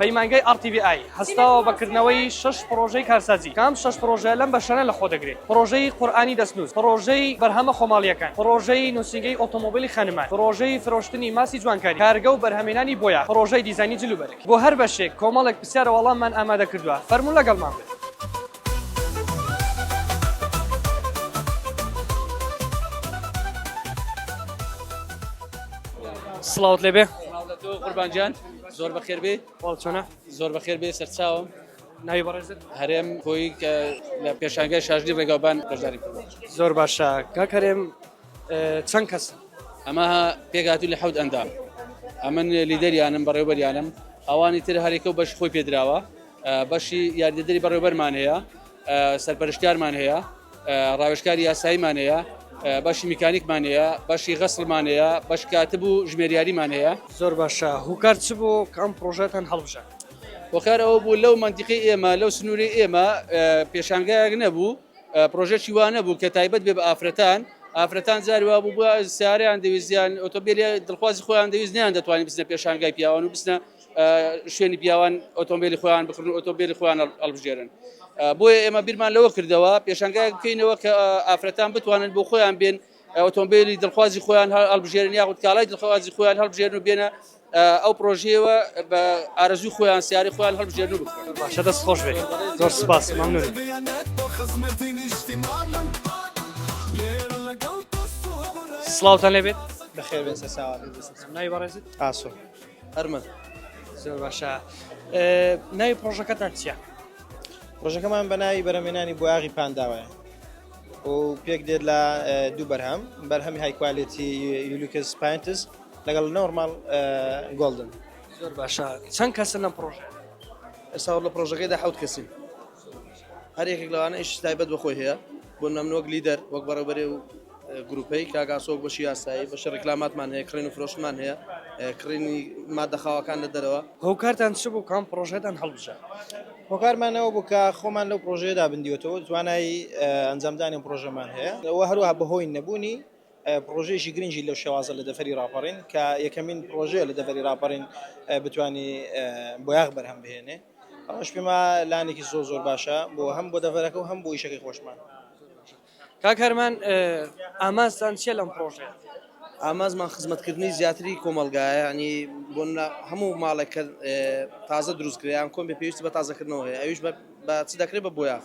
پەیمانگای RTVI هەستاوە بە کردنەوەی شەش پڕۆژەی کارسازی، کە ئەم شەش پڕۆژە لەم بەشانە لەخۆ دەگرێت، پڕۆژەی قورئانی دەستنووس، پڕۆژەی بەرهەمە خۆماڵییەکان، پڕۆژەی نووسینگەی ئۆتۆمۆبیلی خانمان، پڕۆژەی فرۆشتنی ماستی جوانکاری، کارگە و بەرهەمهێنانی بۆیاخ، پڕۆژەی دیزاینی جل و بەرگ. بۆ هەر بەشێک کۆمەڵێک پرسیار و وەڵاممان ئامادە کردووە، فەرموون لەگەڵمان بن. سڵاوت لێبێ. سڵاو لە تۆ قوربان گیان. زۆر بەخێر بێ چۆنە زۆر بەخێر بێ سەرچاوم ناوی بەڕێزت هەرێم کۆی کە لە پێشانگای شاژنی ڕێگاوبان بەشداری زۆر باشە کاک هەرێم چەند کەس ئەمە پێگاتو لە حەوت ئەندام ئەمن لیدەریانم بەڕێوبەریانم ئەوانی تر هەرێکە و بەش خۆی پێدراوە بەشی یاریدەری بەڕێوبەرمان هەیە سەرپەرشتیارمان هەیە، ڕاوێژکاری یاساییمان هەیە، بەشی میکانیکمان هەیە، بەشی غەسڵمان هەیە، بەشی کاتب و ژمێریاریمان هەیە. زۆر باشە، هۆکار چ بوو کە ئەم پڕۆژەتان هەڵبژارد؟ هۆکار ئەوە بوو لەو مەنتیقەی ئێمە، لەو سنوورەی ئێمە پێشانگایەک نەبوو، پڕۆژەیەکی وا نەبوو کە تایبەت بێ بە ئافرەتان. ئافرەتان جاری وا بوو سەیارەیان دەویست یان ئۆتۆمبێلی دڵخوازی خۆیان دەویست، نەیاندەتوانی بچنە پێشانگای پیاوان و بچنە شوێنی پیاوان ئۆتۆمبیلی خۆیان بکڕن و ئۆتۆمبیلی خۆیان هەڵبژێرن بۆیە ئێمە بیرمان لەوە کردەوە پێشنگایەک بکەینەوە کە ئافرەتان بتوانن بۆ خۆیان بێن ئۆتۆمبیلی دڵخوازی خۆیان هەڵبژێرن یاخود کاڵای دڵخوازی خۆیان هەڵبژێرن و بێنە ئەو پرۆژەیەوە بە ئارەزوی خۆیان سیاری خۆیان هەڵبژێرن و باشە دەست خۆش بێت زۆر سپاس مەمنون سڵاوتان لێبێت بەخێر بێت سەر ساوات ناوی بەڕێزت ئاسۆ هەرمن زۆر باشە ناوی پرۆژەکەتان چیە؟ پرۆژەکەمان بە ناوی بەرەمێنانی بۆیاغی پانداوایە و پێک دێت لە دوو بەرهەم بەرهەمی هایکوالێتی یولوکس پینتس لەگەڵ نۆرمال گۆلدن زۆر باشە چەند کەسە لەم پرۆژە ئێستا لە پرۆژەکەیدا حوت کەسین هەر یەکێک لەوانە ئیشی تایبەت بە خۆی هەیە، بۆ نموونە من وەک لیدەر، وەک بەڕێوەبەری ئەو گرووپەی، کاک ئاسۆ وەک بەشی یاسایی، بەشی ڕیکلاماتمان هەیە، کڕین و فرۆشتنمان هەیە، کڕینی ماددە خاوەکان لە دەرەوە. هۆکارتان چ بوو کە ئەم پڕۆژەتان هەڵبژارد؟ هۆکارمان ئەوە بوو کە خۆمان لەو پڕۆژەیەدا بندیوەتەوە و توانای ئەنجامدانی ئەم پڕۆژەمان هەیە و هەروەها بەهۆی نەبوونی پڕۆژەیەکی گرنگی لەو شێوازە لە دەڤەری ڕاپەڕین کە یەکەمین پڕۆژەیە لە دەڤەری ڕاپەڕین بتوانی بۆیاخ بەرهەم بهێنێ ئەوەش پێما لانێکی زۆر زۆر باشە بۆ هەم بۆ دەڤەرەکە و هەم بۆ ئیشەکەی خۆشمان کاک هەرمان ئاماستان چیە لەم پڕۆژەیە ئامازمان خزمەتکردنی زیاتری کۆمەلگایە ینی بۆ هەموو ماڵێک کە تازە دروستکریان کۆم بە پێویستی بە تازەکردنەوە هەیە ئەویش بە چ دەکرێت بە بۆیاخ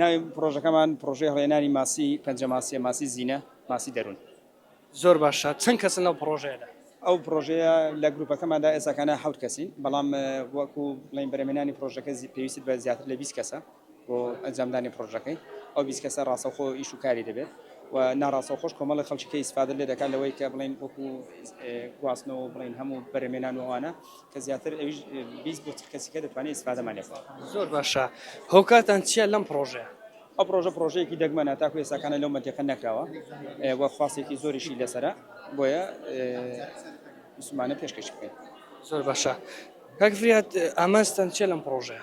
ناوی پرۆژەکەمان پرۆژەی هەڵێنانی ماسی پەنجە ماسیە ماسی زینە ماسی دەرون. زۆر باشە چەند کەسن لەو پڕۆژەیەدا؟ ئەو پرۆژەیە لە گروپەکەماندا ئێساکانە حەوت کەسین بەڵام وەکو بڵین بەرەمێنانی پرۆژەکە پێویست بە زیاتر لە بیست کەسە بۆ ئەنجامدانی پرۆژەکەی ئەو بیست کەسە ڕاستەوخۆ ئیش و کاری دەبێت و ناڕاستەو خۆش کۆمەڵی خەڵکی کە ئیسفادە لێ دەکات لەوەی کە بڵین وەکو گواستنەوە بڵین هەموو بەرەمێنان و ئەوانە کە زیاتر ئەویش بیست بۆ چل کەسیکە دەتوانێت ئیسفادەمان لێ بکات. زۆر باشە هۆکارتان چیە لەم پڕۆژەیە؟ ئەو پڕۆژە پڕۆژەیەکی دەگمەنە تاکو ئێساکانە لەو مەنتیقە نەکراوە و خواستێکی زۆریشی لەسەرە بۆیە مسلمانە پێشکەش بکەین. زۆر باشە کاک فریاد ئامانجتان چیە لەم پڕۆژەیە؟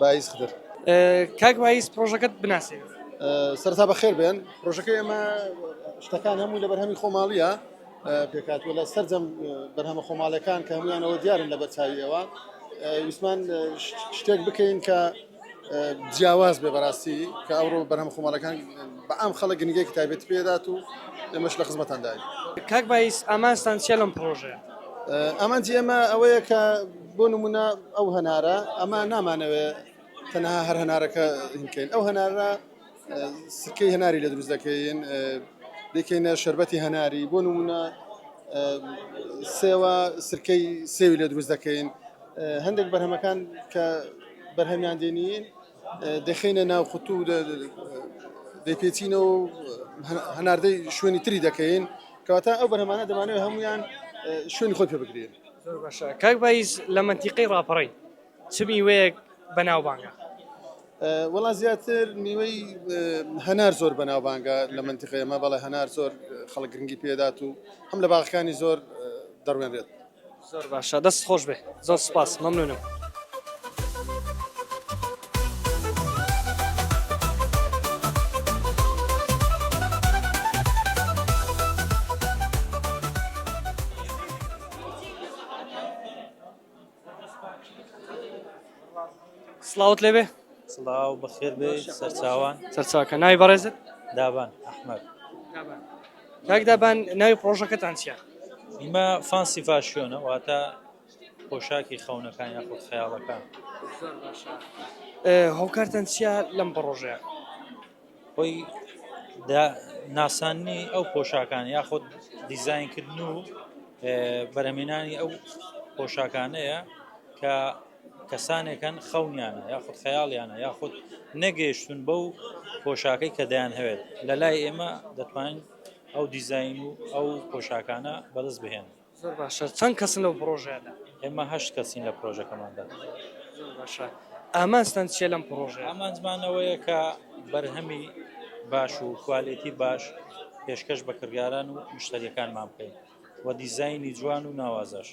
بایز خدر. کاک بایز پرۆژەکەت بناسێنە. سەرەتا بەخێر بێن پرۆژەکەی ئێمە شتەکان هەمووی لە بەرهەمی خۆماڵییە پێکاتوە لە سەرجەم بەرهەمە خۆماڵەکان کە هەمویانەوە دیارن لە بەرچاویەوە ویسمان شتێک بکەین کە جیاواز بێ بەڕاستی کە ئەوڕۆ بەرهەم خۆماڵەکان بە ئەم خەڵک گنگێکی تایبێت پێدات و ئێمەش لە خزمەتانداین کاک بایز ئامانستان چێ لەم پرۆژەیە؟ ئامانجی ئێمە ئەوەیە کە بۆ نمونە ئەو هەنارە ئەمە نامانەوێ تەنها هەر هەنارەکە هینکەین ئەو هەنارە سکەی هەناری لە دروست دەکەین دەکەینە شربەتی هەناری بۆ نمونە سێوە سرکەی سێوی لە دروست دەکەین هەندێک بەرهەمەکان کە بەرهەمیان دێنین دەخینە ناو خوتو دەپێچینەوە هەناردەی شوێنی تری دەکەین کەواتە ئەو بەرهەمانە دەمانەوە هەمویان شوێن خۆی پێ بگرین زۆر باشە کاک بایز لە مەنتیقەی ڕاپەڕین چ میوەیەک بەناوبانگە؟ وەڵا زیاتر میوەی هەنار زۆر بەناوبانگە لە مەنتیقەی ئەمە بەڵێ هەنار زۆر خەڵک گرنگی پێدات و هەم لە باغەکانی زۆر دەڕوێنرێت. زۆر باشە دەست خۆش بێ زۆر سپاس مەمنونم. سڵاوت لێبێ سڵاو بەخێر بێ سەرچاوان سەرچاکە ناوی بەڕێزت دابان ئەحمد کاک دابان ناوی پرۆژەکەتان چیە؟ ئیمە فانسی فاشیۆنە واتە پۆشاکی خەونەکان یاخود خەیاڵەکان. زۆر باشە هۆکارتان چیە لەم پڕۆژەیە؟ خۆی دا ناساننی ئەو پۆشاکان یاخود دیزاینکردن و بەرەمێنانی ئەو پۆشاکانەیە کە کەسانێکن خەونیانە یاخود خەیاڵیانە یاخود نەگەیشتون بەو پۆشاکەی کە دەیان هەوێت لە لای ئێمە دەتوانین ئەو دیزاین و ئەو پۆشاکانە بەدەست بهێنن. زۆر باشە چەند کەسن لەو پڕۆژەیەدا؟ ئێمە هەشت کەسین لە پڕۆژەکەماندا. زۆر باشە ئامانجتان چیە لەم پڕۆژەیە؟ ئامانجمان ئەوەیە کە بەرهەمی باش و کوالێتی باش پێشکەش بە کڕیاران و مشتەریەکانمان بکەین و دیزاینی جوان و ناوازەش.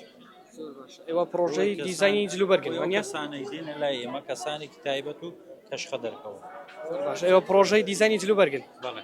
زۆر باشە ئێوە پڕۆژەی دیزاینی جلوبەرگن وانیە؟ ئەو کەسانەی دێنە لای ئێمە کەسانێکی تایبەت و کەشخە دەرکەون. زۆر باشە ئێوە پڕۆژەی دیزاینی جلوبەرگن؟ بەڵێ.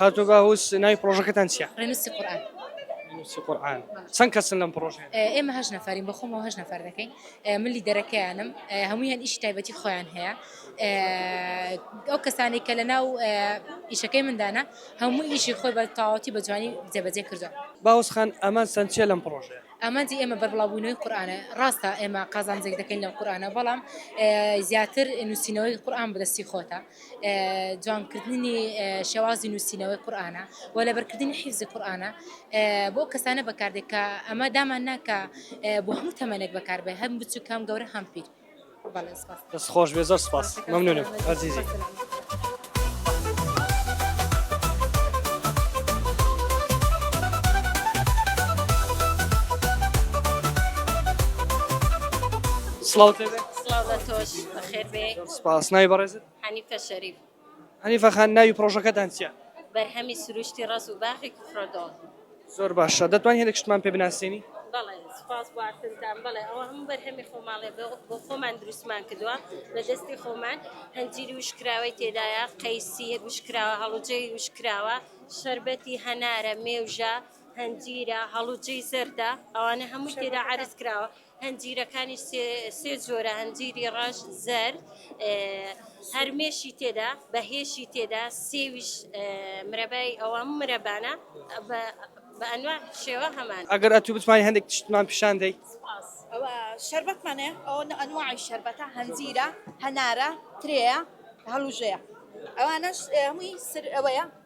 کاکە باوس ناوی پڕۆژەکەتان چیە؟ ڕێنووسی قورئان ڕێنووسی قورئان چەند کەسن لەم پڕۆژەیە؟ ئێمە هەشت نەفەرین بە خۆمەوە هەشت نەفەر دەکەین من لیدەرەکەیانم هەموویان ئیشی تایبەتی خۆیان هەیە ئەو کەسانی کە لە ناو ئیشەکەی مندانە هەموو ئیشی خۆی بە تاواتی بە جوانی جێبەجێ کردو باوس خان ئەمان سند چیە لەم پڕۆژەیە؟ ئامانجی ئێمە بەربڵاوبوونەوەی قورآانە ڕاستە ئێمە قازانجێک دەکەین لە قورآانە بەڵام زیاتر نووسینەوەی قورآان بەدەستی خۆتە جوان کردنی شێوازی نووسینەوەی قورآانە و لەبەرکردنی حیزی قورآانە بۆ کەسانە بەکاردێک کە ئەمە دامان ناکە بۆ هەموو تەمەنێک بەکاربێ هەم بچوو کام گەورە هەم پیر دەست خۆش بێ زۆر سپاس مەمنونم ئەزیزی. سڵاو تۆش بەخێر بێ. سپاس، ناوی بەڕێزت؟ حەنیفە شەریف. حەنیفە خان ناوی پڕۆژەکەتان چیە؟ بەرهەمی سروشتی ڕەز و باخی کوفرەدۆڵ. زۆر باشە، دەتوانی هەندێک شتمان پێ بناسێنی؟ بەڵێ، سپاس بۆ ئاستنتان، بەڵێ ئەوە هەموو بەرهەمی خۆماڵێ بۆ بۆ خۆمان دروستمان کردووە بە دەستی خۆمان، هەنجیری وشککراوەی تێدایە، قەیسی وشککراوە، هەڵوجەی وشککراوە، شەربەتی هەنارە، مێوژە، هەنجیرە، هەڵوجەی زەردە، ئەوانە هەمووی تێدا عەرز کراوە، هەنجیرەکانی سێ جۆرە، هەنجیری ڕەش، زەرد، هەر مێشی تێدا، بە هێشی تێدا، سێویش مرەبای ئەوە مرەبانە بە ئەنواع شێوە هەمان. ئەگەر ئەتوو بتوانی هەندێک تشتمان پیشان دەی. سوپاس. ئەوە شەربەتمان هەیە، ئەوە ئەنواعی شەربەتە، هەنجیرە، هەنارە، ترێیە، هەڵوژەیە. ئەوانەش هەمووی سر ئەوەیە.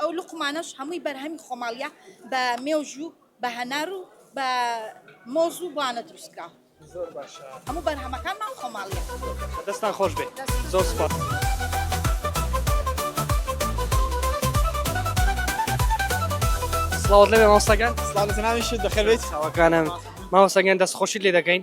ئەو لقمانەش هەمووی بەرهەمی خۆماڵە بە مێژوو بە هەنار و بە مۆز و بانە دروستکە هەموو بەرهەمەکان ماڵ خۆماڵە دەستان خۆش بێت زۆر سپاس. سڵاوت لەوێ مامۆستاگیان سڵاو لە جەنابیشت بەخێربێیت مامۆستاگیان دەستخۆشیت لێ دەکەین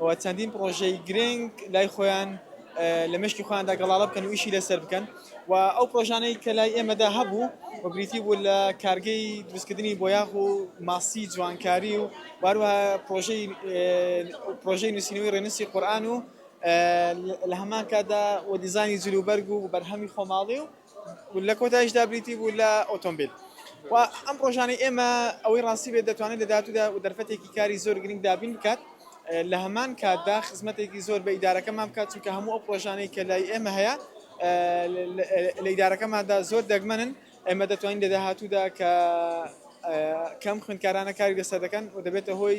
و چەندین پڕۆژەی گرنگ لای خۆیان لە مێشکی خۆیاندا گەڵاڵە بکەن و ئیشی لەسەر بکەن و ئەو پرۆژانەی کە لای ئێمەدا هەبوو و بریتی بوو لە کارگەی دروستکردنی بۆیاغ و ماسی جوانکاری و واروها پرۆژەی پرۆژەی نووسینەوەی ڕێنووسی قورئان و لە هەمان کاتدا و دیزانی جلوبەرگ و بەرهەمی خۆماڵی و و لە کۆتاییشدا بریتی بوو لە ئۆتۆمبیل. و ئەم ڕۆژانەی ئێمە ئەوەی ڕاستی بێت دەتوانێت لە داهاتوودا دەرفەتێکی کاری زۆر گرنگ دابین بکات، لە هەمان کاتدا خزمەتێکی زۆر بە ئیدارەکەمان بکات، چونکە هەموو ئەو پڕۆژانەی کە لای ئێمە هەیە لە ئیدارەکەماندا زۆر دەگمەنن، ئێمە دەتوانین لە داهاتوودا کە کەم خوێندکارانە کاری لەسەر دەکەن و دەبێتە هۆی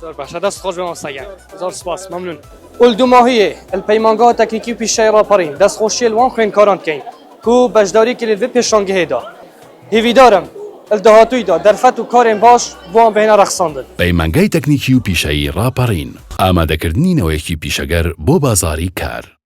زۆر باشە دەست خۆش بێ مامۆستا گیان زۆر سپاس مەمنون الدماهیه الپەیمانگا تەکنیکی پیشەی ڕاپەڕین دەست خۆشیە لەوان خوێندکاران بکەین کو بەشداری کرد بە پێشانگەهێدا هیویدارم داهاتوویدا دەرفەت و کارێن باش بۆیان بهێنە ڕەخساندن پەیمانگای تەکنیکی و پیشەیی ڕاپەڕین ئامادەکردنی نەوەیەکی پیشەگەر بۆ بازاڕی کار.